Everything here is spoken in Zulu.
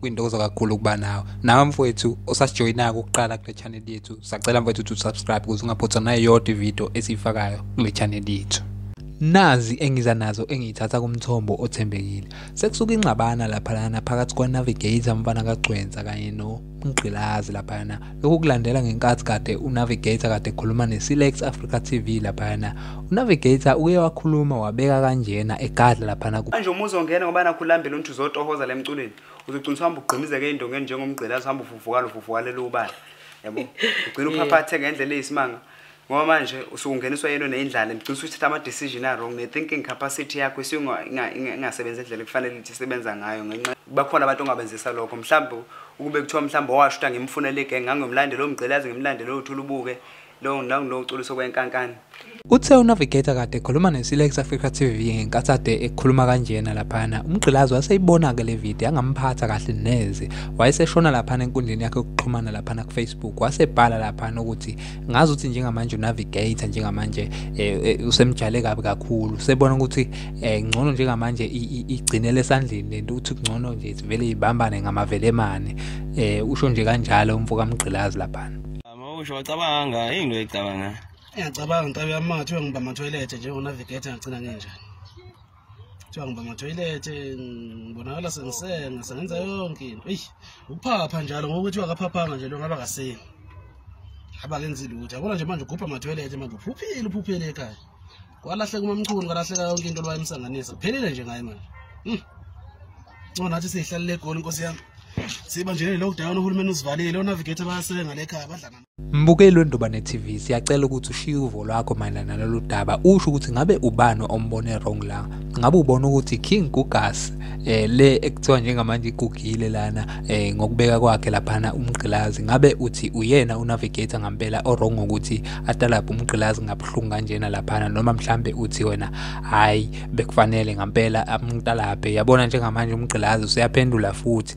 kwintokozo kakhulu ukuba nawe nawe mfowethu osasijoyinako ukuqala kule channel yethu sacela mfowethu to subscribe ukuze ungaphothwa nayo yodwa ividiyo esiyifakayo kule channel yethu nazi engiza nazo engiyithatha kumthombo othembekile sekusuka ingxabana laphayana phakathi kwa-navigator mfana kagcwensa kanye nomgqilazi laphayana Lokhu kulandela ngenkathi kade uNavigator kade ekhuluma neSilex Africa TV laphana. UNavigator uye wakhuluma wabeka kanjena egadla laphana ku Manje uma uzongena ngoba nakho ulambile unthi uzotohoza le mculweni. Uzogcina uhamba ugqimizeke indongeni njengomgqilazi uhamba uvuvuka lo vuvuka lelo ubala. Yabo. Ugcina uphaphathe ngendlela eyisimanga. ngoba manje usukungeniswa yento neyindlala ngicisa ukuthi thatha ama-decision a-wrong ne-thinking capacity yakho isingasebenzi indlela kufanele ukuthi isebenza ngayo ngenxa bakhona abantu ongabenzisa lokho mhlawumbe ukube kuthiwa mhlawumbe owasho ukuthi angimfunele igenge ngangiyomlandela omgqilazi ngimlandele othula ubuke lowo nangiloculiso kwenkankani Uthe uNavigator kade ekhuluma neSilex Africa TV ngenkathi ade ekhuluma kanjena laphana. Umgqilazi waseyibona-ke le video yangamphatha kahle neze. wayeseshona laphana enkundleni yakhe yokuxhumana laphana kufacebook wasebhala laphana ukuthi ngazi ukuthi njengamanje unavigator njengamanje um usemjale kabi kakhulu sebona ukuthi um ngcono njengamanje igcinele esandleni lento ukuthi kungcono nje sivele ibambane ngamavelemane um usho nje kanjalo umfo kamgqilazi laphana usho wacabanga yini into ecabanga ngiyacabanga ntabi yami mathiwe ngibama toilet njengonavigator ngagcina ngenjani kuthiwa ngiba ngathoyilethe ngibonakala sengisenga sengenza yonke into eyi ukuphapha njalo ngoba kuthiwa akaphaphanga nje lo ngaba kaseni haba kenzi lutho yabona nje manje ugubha amathoyilethe manje uphuphile uphuphile ekhaya kwalahleka umamchunu kwalahleka yonke into lwayemsanganisa kuphelile nje ngaye manje hmm. ncona nathi siyihlalele egoli inkosi yami siba nje ne-lockdown uhulumeni usivalile onavigator bayasebenga lekhaya badlana Mbukeli weNdobane TV siyacela ukuthi ushiye uvo lwakho mayelana nalolu daba usho ukuthi ngabe ubani ombone wrong la ngabe ubona ukuthi King Gugas eh le ekuthiwa njengamanje igugile lana eh ngokubeka kwakhe laphana umgqilazi ngabe uthi uyena unavigator ngampela orong ukuthi atalaphe umgqilazi ngabuhlungu kanjena laphana noma mhlambe uthi wena hayi bekufanele ngampela amtalaphe yabona njengamanje umgqilazi useyaphendula futhi